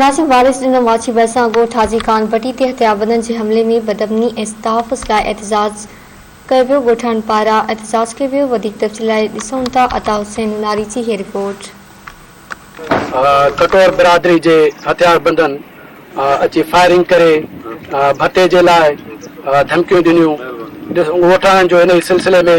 ناصر وارث ڏنو ماڇي ڀرسان ڳوٺ حاجي خان ڀٽي تي هٿياربندن جي حملي ۾ بدامني ۽ تحفظ لاء احتجاج ڪيو ويو ڳوٺاڻن پاران احتجاج ڪيو ويو وڌيڪ تفصيل لاء ڏسون ٿا عطا حسين نوناري جي هي رپورٽ. کٽور برادري جي هٿياربندن اچي فائرنگ ڪري ڀتي جي لاء ڌمڪيون ڏنيون ڳوٺاڻن جو ان ئي سلسلي ۾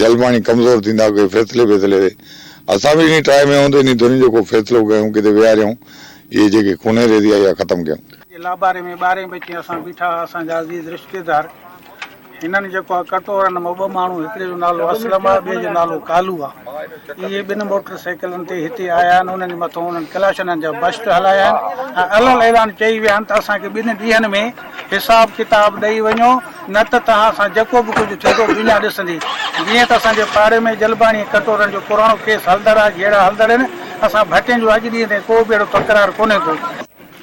جلماڻي ڪمزور ٿيندا ڪي فيصلي بيصلي تي اسان به انهي ٽراء ۾ هوندي انهي ڌرين جو ڪو فيصلو ڪيون ڪٿي ويهاريون اهي جيڪي ڪونهي ريزي آئي اها ختم ڪيون. جي لاباري ۾ ٻارهين بچي اسان بيٺا ها اسان جا عزيز رشتيدار هنن جيڪو ها ڪٽورن مان ٻه ماڻهو هڪڙي جو نالو اسلم آ ٻئي جو نالو ڪالو آ اهي ٻن موٽر سائيڪلن تي هتي آيا آهن انهن جي مٿو انهن ڪلاشنن جا بشٽ هلايا آهن ۽ الل اعلان چئي ويا آهن ته اسان کي ٻن ڏينهن ۾ حساب ڪتاب ڏئي وڃو. نه ته توهان سان جيڪو به ڪجهه ٿيندو دنيا ڏسندي. جيئن ته اسان جي پاڙي ۾ جلباڻي ۽ ڪٽورن جو پراڻو ڪيس هلندڙ آهي، جهيڙا هلندڙ آهن. اسان ڀٽين جو اڄ ڏينهن تائين ڪو به اهڙو تڪرار ڪونهي ٿيو.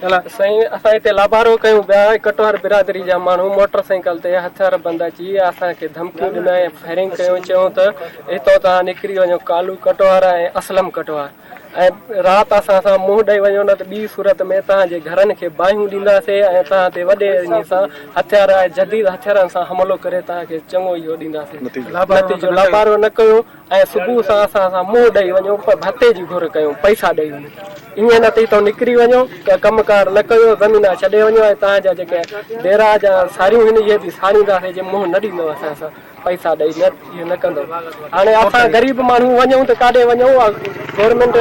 الا سائين اسان هتي لابارو ڪيون پيا ۽ ڪٽوار برادري جا ماڻهو موٽر سائيڪل تي هٿيار بند اچي اسان کي ڌمڪيون ڏنائين ۽ فائرنگ ڪيون چيون ته هتان توهان نڪري وڃو ڪالو ڪٽوار ۽ اسلم ڪٽوار ۽ رات اسان سان منهن ڏئي وڃو نه ته ٻي صورت ۾ توهان جي گهرن کي باهيون ڏينداسين ۽ توهان تي وڏي ايني سان هٿيار ۽ جديد هٿيارن سان حملو ڪري توهان کي چڱو اهو ڏينداسين. نتيجو، لابارو نه ڪيو ۽ صبح سان اسان سان منهن ڏئي وڃو پر ڀتي جي گهر ڪيو، پئسا ڏئي وڃو. ائين نه ٿي تو نڪري وڃو، ڪا ڪم ڪار نه ڪيو، زمينا ڇڏي وڃو ۽ توهان جا جيڪي ديرا جا ساريون هن اهي به ساڙينداسين جي منهن نه ڏيندو اسان سان. پئسا ڏئي نه اهو نه ڪندو هاڻي اسان غريب ماڻهو وڃون ته ڪاڏي وڃون گورنمينٽ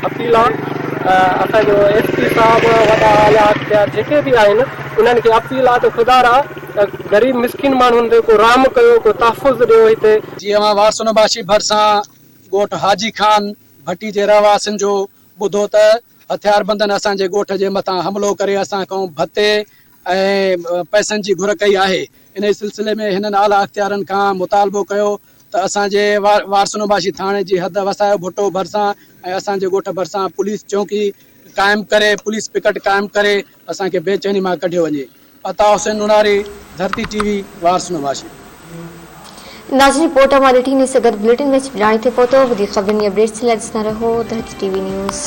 اپيل آ اسان جو ايس پي صاحب وڏا اعليٰ اختيار جيڪي به آهن انهن کي اپيل آ ته خدا را غريب مسڪين ماڻهن تي ڪو رحم ڪيو ڪو تحفظ ڏيو هتي جي اوهان واسونباشي ڀرسان ڳوٺ حاجي خان ڀٽي جي رهواسين جو ٻڌو ته هٿياربندن اسان جي ڳوٺ جي مٿان حملو ڪري اسان کان ڀتي ۽ پئسن جي گهر ڪئي آهي، انهي سلسلي ۾ هنن اعليٰ اختيارن کان مطالبو ڪيو ته اسان جي وارسنوباشي ٿاڻي جي حد وسايو ڀٽو ڀرسان ۽ اسان جي ڳوٺ ڀرسان پوليس چونڪي قائم ڪري پوليس پڪٽ قائم ڪري اسان کي بي چيني مان ڪڍيو وڃي عطا حسين نوناري ڌرتي ٽي وي وارسنوباشي. ناظرين پورٽ امان ڏٺي نيس سگت بليٽن ۾ سڀ ڄاڻي ٿي پهتو وڌيڪ خبرن ۽ اپڊيٽس لاء ڏسندا رهو ڌرتي ٽي وي نيوز.